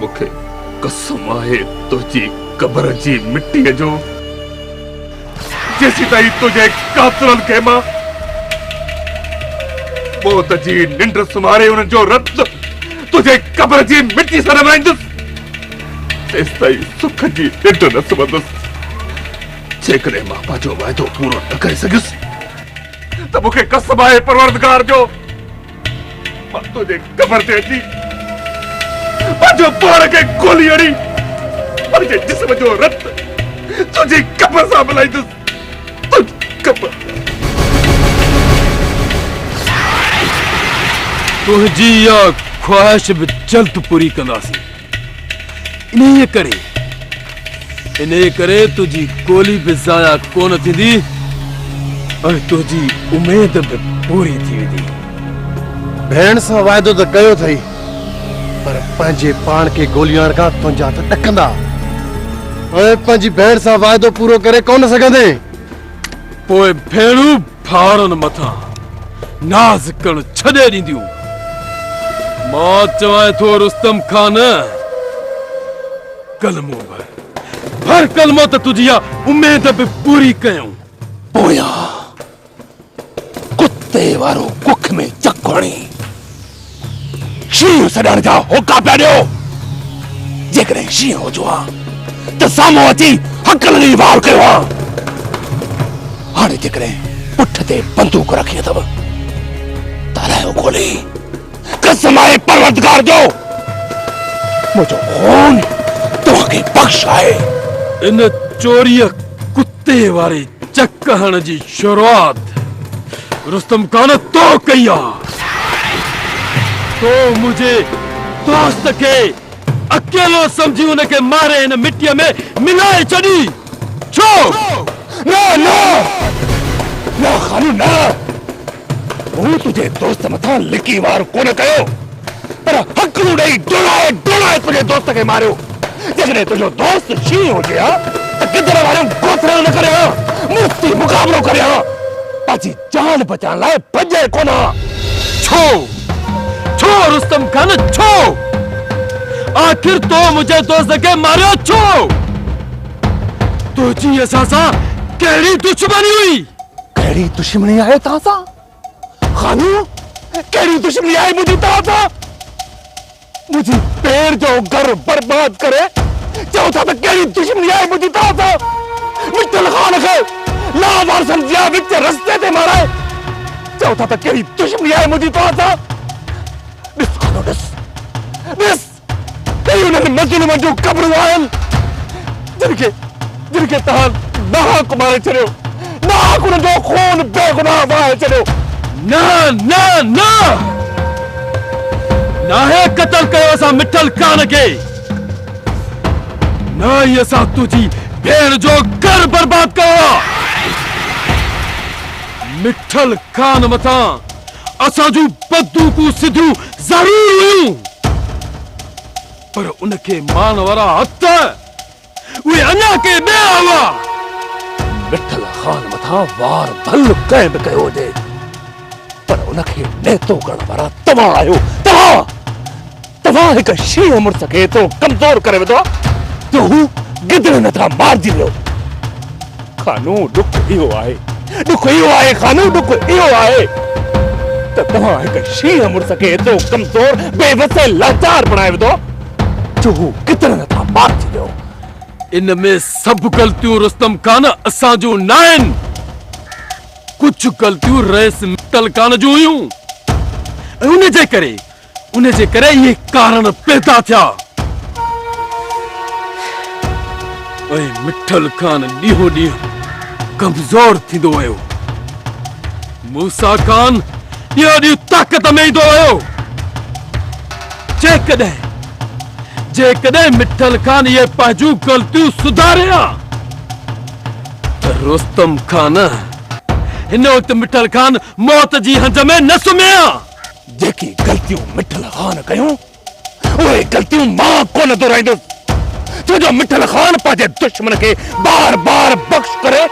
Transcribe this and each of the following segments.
مون کي قسم آهي تنهنجي قبر جي مٽيء جو، جيسيتائين تنهنجي قاتلن کي مان موت جي ننڊ سمهاري انهن جو رت تنهنجي قبر جي مٽيء سان نه وهائيندس، تيستائين سک جي ننڊ نه سمهندس. جيڪڏهن مان پنهنجو وعدو پورو نه ڪري سگهيس ته مون کي قسم آهي پروردگار جو! مان تنهنجي قبر تي اچي پنهنجو پاڻ کي کولي هڻي پنهنجي جسم جو رت تنهنجي قبر سان ملائيندس. تنهنجي قبر سان. تنهنجي اها خواهش به جلد پوري ڪنداسين. انهيء ڪري، انهيء ڪري تنهنجي گولي به ضايع ڪونه ٿيندي ۽ تنهنجي اميد به پوري ٿي ويندي. ڀيڻ سان واعدو ته ڪيو اٿئي، پر پنهنجي پاڻ کي گولي هڻڻ کان تنهنجا هٿ ڏڪندا ۽ پنهنجي ڀيڻ سان واعدو پورو ڪري ڪونه سگهندين. پوء ڀيڻون! ٿارن مٿان ناز ڪرڻ ڇڏي ڏينديون. مان چوانء ٿو رستم خان، ڪلمو ڀر، ڀر ڪلمو ته تنهنجي اها اميد به پوري ڪيون. پويان ڪتي وارو ڪک ۾ چڪ هڻي. شينهن سڏڻ جا هوڪا پيا ڏيو، جيڪڏهن شينهن هجو ها ته سامهون اچي هڪل ڏيئي وار ڪيو ها، هاڻي جيڪڏهن پٺ تي بندوق رکي اٿو ته الايو کولي، قسم آهي پروردگار جو منهنجو خون توهان کي بخش آهي. ان چوريء تي واري چڪ هڻڻ جي شروعات رستم خان تو ڪئي آ. تو منهنجي دوست کي اڪيلو سمجهي ان کي ماري هن مٽيء ۾ ملائي ڇڏي ڇو؟ نه نه نه خانه نه هو تنهنجي دوست مٿان لڪي وار ڪونه ڪيو. پر هڪلون ڏئي ڊوڙائي ڊوڙائي تنهنجي دوست کي ماريو. جيڪڏهن تنهنجو دوست شينهن هجي ها ته گدڙ واريون گوٿريون نه ڪري ها، مڙس ٿي مقابلو ڪري ها. پنهنجي جان بچائڻ لاء ڀڄي ڪونه ها. ڇو؟ ڇو رستم خان ڇو؟ آخر تو منهنجي دوست کي ماريو ڇو؟ تنهنجي اسان سان ڪهڙي دشمني هئي؟ ڪهڙي دشمني آهي توهان سان؟ خانو ڪهڙي دشمني آهي منهنجي توهان سان منهنجي پير جو گهر برباد ڪري چئو ٿا ته ڪهڙي دشمني آهي منهنجي توهان سان مٺل خان کي لا وارثن جيان وچ رستي تي مارائي چئو ٿا ته ڪهڙي دشمني آهي منهنجي توهان سان ڏس خانو ڏس ڏس ڪي انهن مظلومن جون قبرون آهن، جن کي جن کي توهان ناحق ماري ڇڏيو، ناحق انهن جو خون بيگناهه وهائي ڇڏيو. نه نه نه! ناهي قتل ڪيو اسان مٺل خان کي، نه ئي اسان تنهنجي ڀيڻ جو گهر برباد ڪيو آ. مٺل خان مٿان اسان جون بدوقون سڌيون ضرور هيون پر ان کي مان وارا هٿ اهي اڃا ڪنهن ٻيا هئا. مٺل خان مٿان وار ڀل ڪنهن به ڪيو هجي پر ان کي نيتو ڪرڻ وارا توهان آهيو. توهان توهان هڪ شينهن مڙس کي ايترو ڪمزور ڪري وڌو جو هو گدڙ ۾ ٿا مارجي ويو. خانو ڏک اهو آهي ڏک اهو آهي خانو ڏک اهو آهي ته توهان هڪ شينهن مڙس کي ايترو ڪمزور بي وس ۽ لاچار بڻائي وڌو جو هو ڪتڻ هٿان پار ٿي ويو. ان ۾ سڀ غلطيون رستم خان اسان جون ناهن ڪجهه غلطيون رئيس متل خان جون هيون ۽ ان جي ڪري ان جي ڪري اهي ڪارڻ پيدا ٿيا. ۽ مٺل خان ڏينهون ڏينهن ڪمزور ٿيندو ويو. موسيٰ خان ڏينهون ڏينهن طاقت ۾ ايندو ويو. جيڪڏهن جيڪڏهن مٺل خان اهي پنهنجون غلطيون سڌاري ها ته رستم خان هن وقت مٺل خان موت جي هنج ۾ نه سمهي ها. جيڪي غلطيون مٺل خان ڪيون، اهي غلطيون مان ڪونه دهرائيندس، ڇو جو مٺل خان پنهنجي دشمن کي بار بار بخش ڪري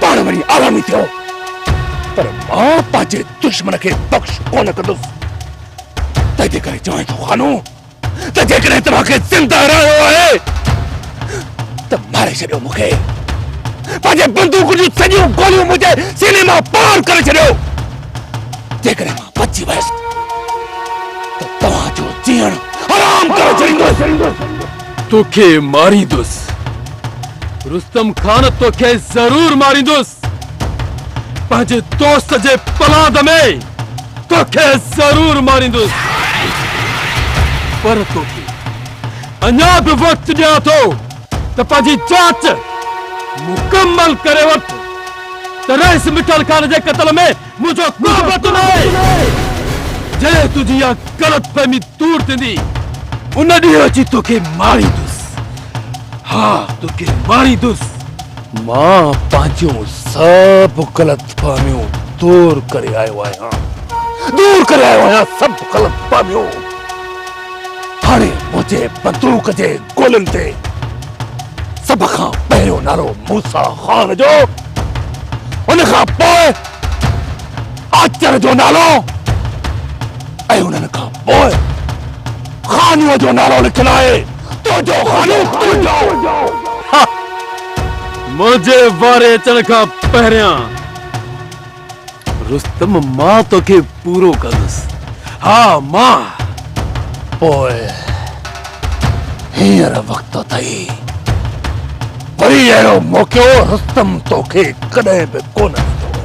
پاڻ وڃي عوامي ٿيو، پر مان پنهنجي دشمن کي بخش ڪونه ڪندس، تنهنجي ڪري چوان ٿو خانو! ته جيڪڏهن توهان کي زنده رهڻو آهي ته ماري ڇڏيو مون کي پنهنجي بندوق جون سڄيون گوليون منهنجي سيني مان پار ڪري ڇڏيو جيڪڏهن مان بچي ويس ته توهان جو جيئڻ حرام ڪري ڇڏيندس توکي ماريندس رستم خان توکي ضرور ماريندس پنهنجي دوست جي پلاند ۾ توکي ضرور ماريندس پر توکي اڃا به وقت ڏيان ٿو ته پنهنجي جاچ مڪمل ڪري وٺ ته رئيس مٺل خان جي قتل ۾ منهنجو ڪو به هٿ ناهي جڏهن تنهنجي اها غلط فهمي دور ٿيندي ان ڏينهن اچي توکي ماريندس ها توکي ماريندس مان پنهنجو سڀ غلط فهميون دور ڪري آيو آهيان دور ڪري آيو آهيان سڀ غلط فهميون هاڻي منهنجي بندوق جي گولين تي سڀ کان پهريون نالو موسا خان جو ان کان پوء آچر جو نالو ۽ انهن کان پوء خانو جو نالو لکيل آهي تو جو خانو تو جو منهنجي واري اچڻ کان پهريان رستم مان توکي پورو ڪندس ها مان پوء هينئر وقت اٿئي وري اهڙو موقعو رستم توکي ڪڏهن به ڪونه ڏيندو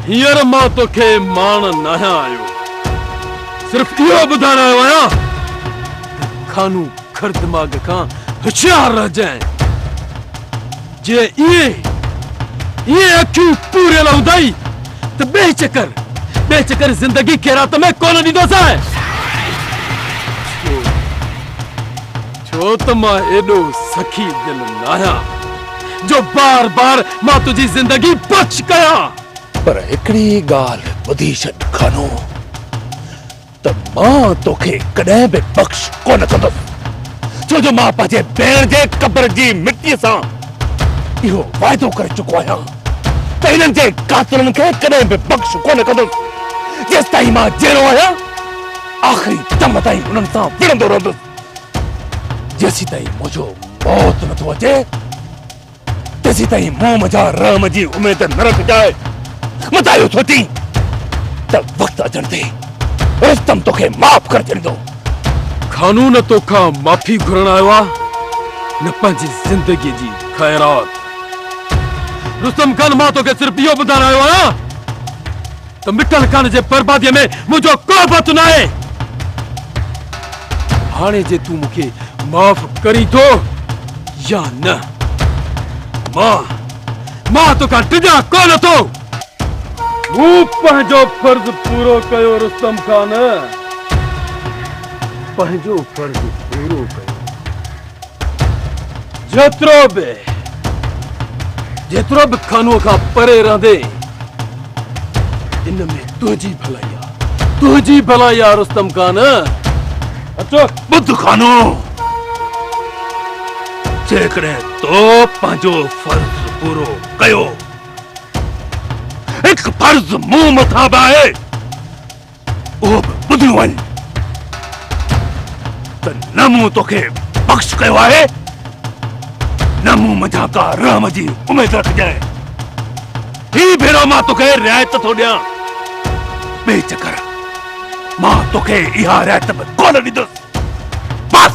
هينئر مان توکي ماڻ ناهيان آيو صرف اهو ٻڌائڻ آيو آهيان ته خانو کر دماغ کان هوشيار رهجانء. جي ائين ائين اکيون پوريل هوندائي ته ٻئي چڪر ٻئي چڪر زندگي خيرات ۾ ڪونه ڏيندوسانء. ڇو ڇو ته مان ايڏو سخي دل ناهيان جو بار بار مان تنهنجي زندگي بخش ڪيان. پر هڪڙي ڳالهه ٻڌي ڇڏ خانو! ته مان توکي ڪڏهن به بخش ڪونه ڪندس، ڇو جو مان پنهنجي ڀيڻ جي قبر جي مٽيء سان اهو واعدو ڪري چڪو آهيان ته هنن جي قاتلن کي ڪڏهن به بخش ڪونه ڪندس، جيستائين مان جيئرو آهيان آخري دم تائين هنن سان وڙهندو رهندس، جيسيتائين منهنجو موت نٿو اچي. تيسيتائين موم جا رحم جي اميد نه رکجاء. متان اهو سوچين ته وقت اچڻ تي رستم توکي معاف ڪري ڇڏيندو. خانو نه توکان معافي گهرڻ آيو آ نه پنهنجي زندگي جي خيرات. رستم خان مان توکي صرف اهو ٻڌائڻ آيو آهيان. ته مٽل ڪاڻ جي برباديء ۾ منهنجو ڪو به هٿ ناهي. هاڻي جي تون مون کي معاف ڪرين ٿو يا نه، مان، مان تو کان ڊڄان ڪو نه ٿو. مون پنهنجو فرض پورو ڪيو رستم خان، پنهنجو فرض پورو ڪيو. جيترو به جيترو به خانو کان پري رهندي ان ۾ تنهنجي ڀلائي آ تنهنجي ڀلائي آ رستم خان اچو ٻڌ خانو جيڪڏهن تو پنهنجو فرض پورو ڪيو هڪ فرض مون مٿان به آهي اهو به ٻڌيو وڃ ته نه مون توکي بخش ڪيو آهي نه مون منجھان ڪا رحم جي اميد رکجانء هي ڀيرو مان توکي رعايت ٿو ڏيان ٻي چڪر مان توکي اها رعايت به ڪونه ڏيندس بس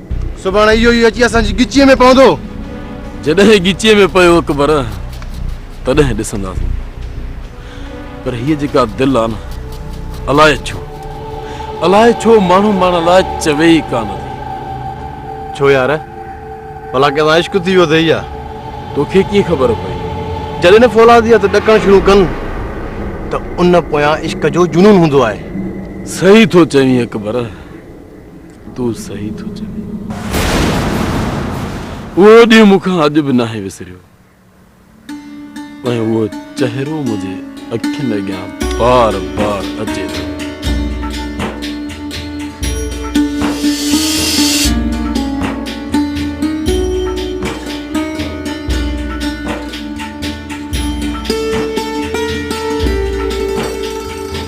سڀاڻي اهو ئي اچي اسان جي ڳچيء ۾ پوندو. جڏهن ڳچيء ۾ پيو اڪبر، تڏهن ڏسنداسين. پر هيء جيڪا دل آ نه، الائي ڇو، الائي ڇو ماڻهو ماڻهن لاء چوي ئي ڪا نه ٿي. ڇو يار، ڀلا ڪنهن سان عشق ٿي ويو اٿئي ڇا؟ توکي ڪيئن خبر پئي؟ جڏهن نه فولادي هٿ ڏڪڻ شروع ڪن، ته ان پويان عشق جو جنون هوندو آهي. صحيح ٿو چوين اڪبر. تون صحيح ٿو چوين. اهو ڏينهن مون کان اڄ به ناهي وسريو ۽ اهو چهرو منهنجي اکين اڳيان بار بار اچي ٿو.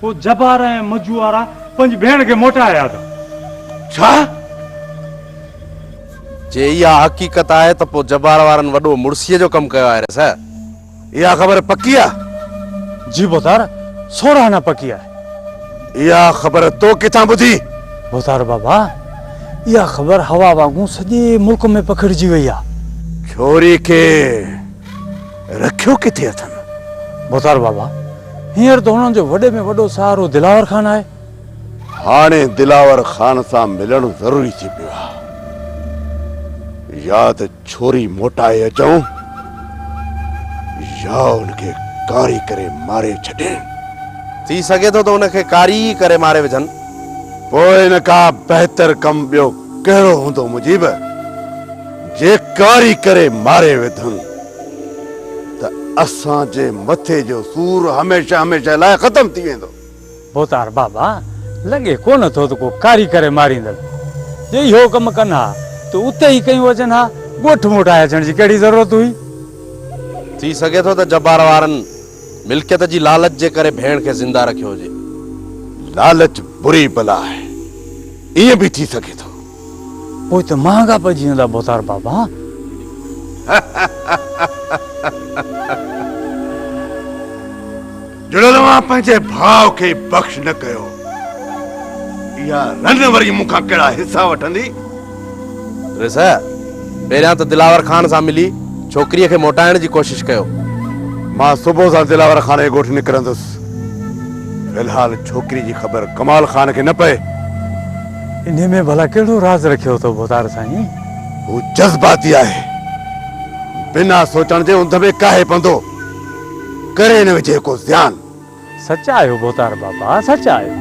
پوء جبار ۽ مجو وارا پنهنجي ڀيڻ کي موٽائي آيا ته ڇا؟ جي اها حقيقت آهي ته پوء جبار وارن وڏو مڙسيء جو ڪم ڪيو آهي رس. اها خبر پڪي آهي؟ جي ڀوتار، سورهه آنا پڪي آهي. اها خبر تو ڪٿان ٻڌي؟ ڀوتار بابا، اها خبر هوا وانگون سڄي ملڪ ۾ پکڙجي وئي آهي. ڇوري کي رکيو ڪٿي اٿن؟ ڀوتار بابا، هينئر ته هنن جو وڏي ۾ وڏو سهارو دلاور خان آهي. هاڻي دلاور خان سان ملڻ ضروري ٿي پيو آهي. يا ته ڇوري موٽائي اچون يا ان کي ڪاري ڪري ماري ڇڏين. ٿي سگهي ٿو ته ان کي ڪاري ئي ڪري ماري وجهن. پوء ان کان بهتر ڪم ٻيو ڪهڙو هوندو مجيب، جي ڪاري ڪري ماري وڌن. ته اسان جي مٿي جو سور هميشه هميشه لاء ختم ٿي ويندو. ڀوتار بابا، لڳي ڪونه ٿو ته ڪو ڪاري ڪري ماريندڙ جي اهو ڪم ڪن ها ته اتي ئي ڪيون هجن ها، ڳوٺ موٽائي اچڻ جي ڪهڙي ضرورت هئي؟ ٿي سگهي ٿو ته جبار وارن ملڪيت جي لالچ جي ڪري ڀيڻ کي زنده رکيو هجي. لالچ بري بلا آهي، ائين به ٿي سگهي ٿو. پوء ته مهانگا پئجي ويندا ڀوتار بابا. جڙيل اوهان پنهنجي ڀاء کي بخش نه ڪيو. اها رن وري مون کان ڪهڙا حصا وٺندي؟ ريس، پهريان ته دلاور خان سان ملي ڇوڪريء کي موٽائڻ جي ڪوشش ڪيو. مان صبح سان دلاور خان جي ڳوٺ نڪرندس. في الحال ڇوڪريء جي خبر ڪمال خان کي نه پئي. انهي ۾ ڀلا ڪهڙو راز رکيو اٿو ڀوتار سائين؟ هو جذباتي آهي. بنا سوچڻ جي انڌ ۾ ڪاهي پندو ڪري نه وجهي ڪو زيان. سچ آهيو ڀوتار بابا سچ آهيو.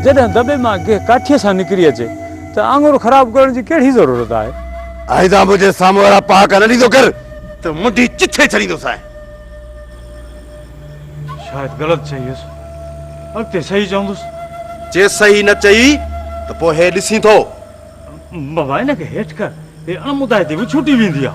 جڏهن دٻي مان گيهه ڪاٺيء سان نڪري اچي ته آڱر خراب ڪرڻ جي ڪهڙي ضرورت آهي. آئنده منهنجي سامهون اهڙا پهاڪا نه ڏيندو ڪر ته منڍي چٿي ڇڏيندوسانء. شايد غلط چئي هيس اڳتي صحيح چوندس جي صحيح نه چئي ته پوء هي ڏسين ٿو بابا ان کي هيٺ ڪر هي اڻ مدائي تي به ڇوٽي ويندي آ